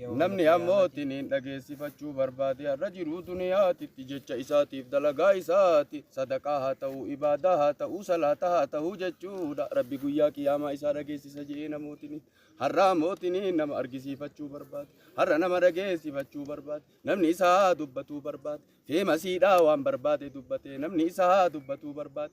Namni ammootiin hin dhageessifachuu barbaade har'a jiruu duniyaatitti jecha isaatiif dalagaa isaati sadaqaa haa ta'uu ibaadaa haa ta'uu salaata haa ta'uu jechuudha rabbi guyyaa qiyaamaa isaa dhageessisa jedhee namootiin har'a ammootiin nama argisiifachuu barbaade har'a nama dhageessifachuu barbaade namni isaa dubbatuu barbaade feemasiidhaa waan barbaade dubbatee namni isaa dubbatuu barbaade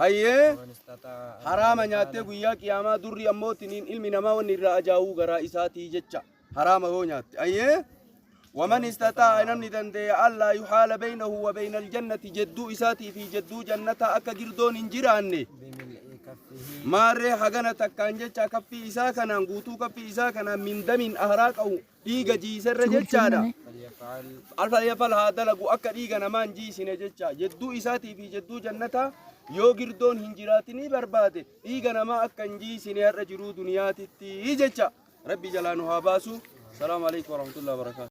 Hayyee haraama nyaattee guyyaa qiyaamaa durri ammoo tiniin ilmi namaa wanni irraa ajaa'uu garaa isaatii jecha haraama yoo nyaatte. Hayyee waman istataa namni danda'e allaa yuhaala beeynahu wa beeynal jannati jedduu isaatii fi jedduu jannataa akka girdoon hin jiraanne. Maarree hagana takkaan jecha kaffii isaa kanaan guutuu kaffii isaa kanaan min damiin ahraa qabu dhiiga jiiserra jechaadha. Alfalyafal haa dalagu akka dhiiga namaan jiisine jecha jedduu isaatii fi jedduu jannataa yoo girdoon hin jiraatinii barbaade dhiiga namaa akka hin jiisine har'a jiruu duniyaatitti jecha rabbi jalaa nu haa baasu. Salaamu alaikum warahmatullahi wabarakatuh.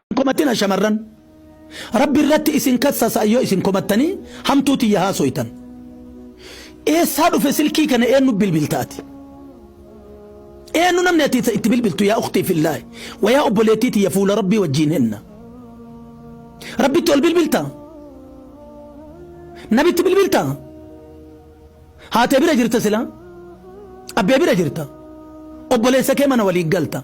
Hin komatina shamarran Rabbi irratti isin kassasa yoo isin komattanii hamtuu tiyya haasoytan. Eessaa dhufe silkii kana eennu bilbilta ati? Eennu namni ati itti bilbiltu yaa uktii fillaahi wa yaa obboleettii tiyya fuula Rabbii wajjiin henna. Rabbitti ol bilbilta? Nabitti bilbilta? Haatee bira jirta silaa? Abbee bira jirta? Obboleessa kee mana waliin galta?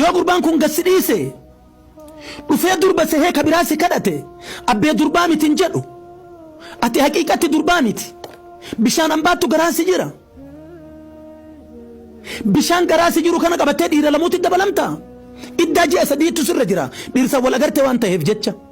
Yoo gurbaan kun gad si dhiise dhufee durba sehee ka biraa si kadhate abbee durbaa miti hin jedhu. Ati haqiiqatti durbaa miti. Bishaan ambaattu garaa si jira. Bishaan garaa si jiru kana qabattee dhiira lamuutti dabalamta. Iddaa ji'a sadiitu sirra jira. Dhiirsa wal agarte waan ta'eef jecha.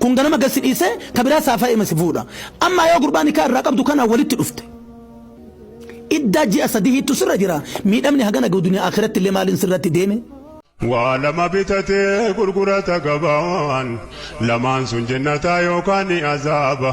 Kun ganama gad si dhiisee ka biraa saafa'eema si fuudha. Ammaa yoo gurbaa nikaa irraa qabdu kanaan walitti dhufte. Iddaa ji'a sadihiittu sirra jira. Miidhamni hagana gahu duniyaa aakhiratti illee maaliin sirratti deeme? Waa lama bitatee gurgurata gabaan, lamaan sun jennataa yookaan ni azaaba.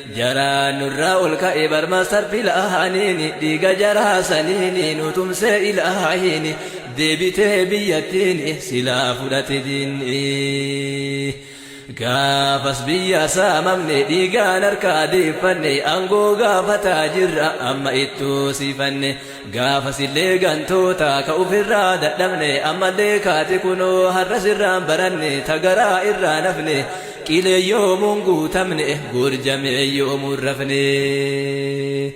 Jaraa nurraa ol ka'e bar master pilaaniini dhiiga jaraa saniini nu tumsee ilaahiini deebitee biyyattiini silaa fudhate diinni gaafas biyya saamamne dhiigaan harkaa deeffanne aangoo gaafataa jirra amma itti hoosifanne Gaafasillee gantoota ka ufirraa dadhabne ammallee kaate kunoo har'as irraan baranne ta garaa irraan hafne qilee yoomuun guutamne goorjamee yoomuun rafne.